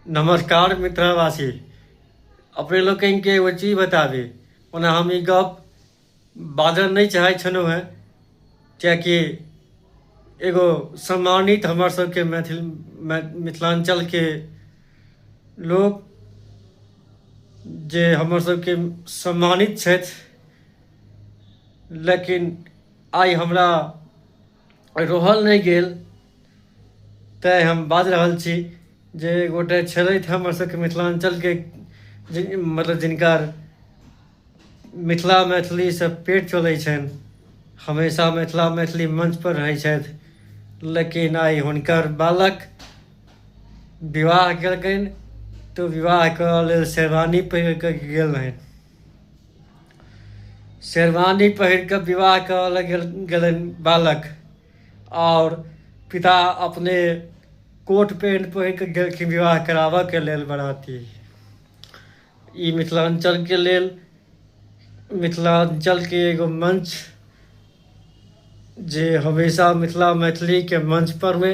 नमस्कार मित्रवासी अपने लोकनिके एगो चीज बताबी ओना हम ई गप बाजल नहि चाहै छलहुँ हेँ किएकि एगो सम्मानित हमर सबके मैथिल मिथिलाञ्चलके लोक जे हमर सबके सम्मानित छथि लेकिन आइ हमरा रहल नहि गेल तैँ हम बाजि रहल छी जे गोटे छलथि हमर सबके मिथिलाञ्चलके जिन मतलब जिनकर मिथिला मैथिलीसँ पेट चलै छनि हमेशा मिथिला मैथिली मञ्चपर रहै छथि लेकिन आइ हुनकर बालक विवाह केलकनि तऽ विवाह करऽ लेल शेरवानी पहिर कऽ गेल रहनि शेरवानी पहिर कऽ विवाह करल गेल गेलनि बालक आओर पिता अपने कोट पेंट पहिर कऽ गेलखिन विवाह कराबऽके लेल बराती ई मिथिलाञ्चलके लेल मिथिलाञ्चलके एगो मंच जे हमेशा मिथिला मैथिलीके मंच पर हुए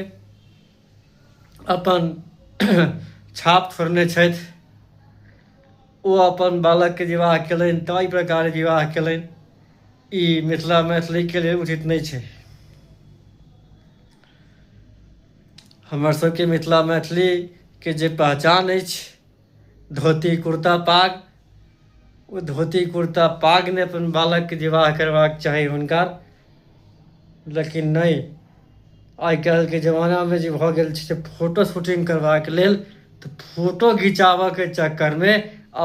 अपन छाप छोड़ने छथि ओ अपन बालकके विवाह कयलनि ताहि प्रकार विवाह कयलनि ई मिथिला मैथिलीके लेल उचित नहि छै हमर सबके मिथिला मैथिलीके जे पहचान अछि धोती कुर्ता पाग ओ धोती कुर्ता पाग ने अपन बालकके विवाह करबाक चाही हुनका लेकिन नहि आइ काल्हिके जमानामे जे भऽ गेल छै से फोटो शूटिंग करबाक लेल तऽ फोटो घिचाबऽके चक्करमे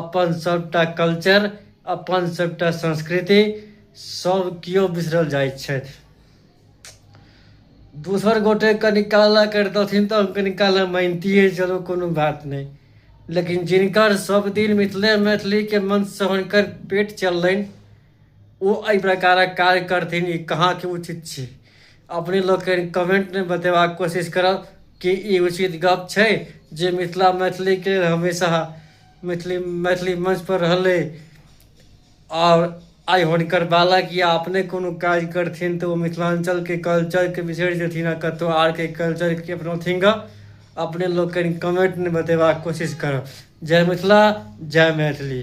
अपन सभटा कल्चर अपन सभटा संस्कृति सभ केओ बिसरल जाइ छथि दोसर गोटे कनि काला करितथिन तऽ हम कनि काला मानितियै चलू कोनो बात नहि लेकिन जिनकर सब दिन मिथिले मैथिलीके मन सहन कर पेट चललनि ओ एहि प्रकारक कार्य करथिन ई कहाँके उचित छै अपने लोक कनि कमेंटमे बतेबाक कोशिश करब कि ई उचित गप छै जे मिथिला मैथिलीके हमेशा मैथिली मैथिली मंचपर रहलै आओर आइ हुनकर बालक या अपने कोनो काज करथिन तऽ ओ मिथिलाञ्चलके कल्चरके बिसरि जेथिन आ कतहु आरके कल्चरके अपनौथिन गऽ अपने लोकनि कमेंटमे बतेबाक कोशिश करब जय मिथिला जय मैथिली